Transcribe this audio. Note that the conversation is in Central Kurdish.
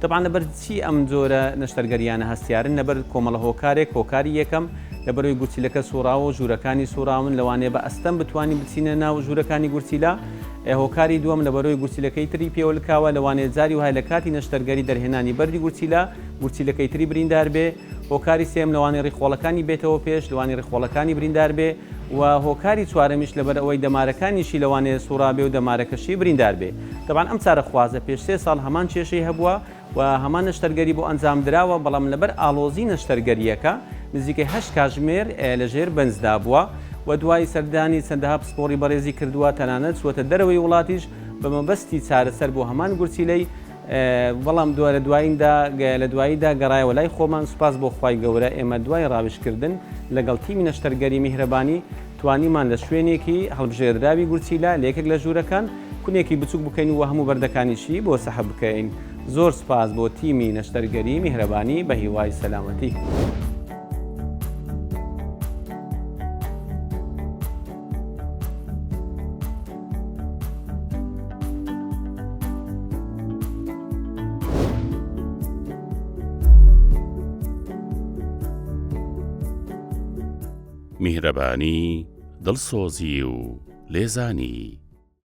تەبعەن لەبەر چی ئەم جۆرە نەشتەرگەرییانە هەستیارن؟ لەبەر کۆمەڵە هۆکارێک، هۆکاری یەکەم، لەبەرئەوەی گورچیلەکە سووڕاوە و ژوورەکانی سووڕاون، لەوانەیە بە ئەستەم بتوانین بچینە ناو ژوورەکانی گورچیلە. هۆکاری دووەم، لەبەرئەوەی گورچیلەکەی تری پێوە لکاوە، لەوانەیە جاری وایە لە کاتی نەشتەرگەری دەرهێنانی بەردی گورچیلە، گورچیلەکەی تری بریندار بێ. هۆکاری سێیەم لەوانەیە ڕیخۆڵەکانی بێتەوە پێش، لەوانەیە ڕیخۆڵەکانی بریندار بێ و هۆکاری چوارەمیش لەبەر ئەوەی دەمارەکانیشی لەوانەیە سوڕابێ و دەمارەکەشی بریندار بێ. تەبعەن ئەم چارەخوازە پێش سێ ساڵ هەمان کێشەی هەبووە و هەمان نەشتەرگەری بۆ ئەنجام دراوە، بەڵام لەبەر ئاڵۆزی نەشتەرگەرییەکە نزیکەی هەشت کاژمێر لە ژێر بەنجدا بووە و دوای سەردانی چەندەها پسپۆڕی بەڕێزی کردووە، تەنانەت چووەتە دەرەوەی وڵاتیش بە مەبەستی چارەسەر بۆ هەمان گورچیلەی بەڵام دوا لە دواییندا لە دواییدا گەڕایەوە لای خۆمان سوپاس بۆ خوای گەورە ئێمە دوای ڕاویژ کردن لەگەڵ تیمی نەشتەرگەری میهرەبانی توانیمان لە شوێنێکی هەڵبژێردراوی گورچیلە لە یەکێک لە ژوورەکان کونێکی بچووک بکەین و هەموو بەردەکانیشی بۆ سەحب بکەین زۆر سوپاس بۆ تیمی نەشتەرگەری میهرەبانی بە هیوای سەلامەتی. میهرەبانی، دڵسۆزی و لێزانی.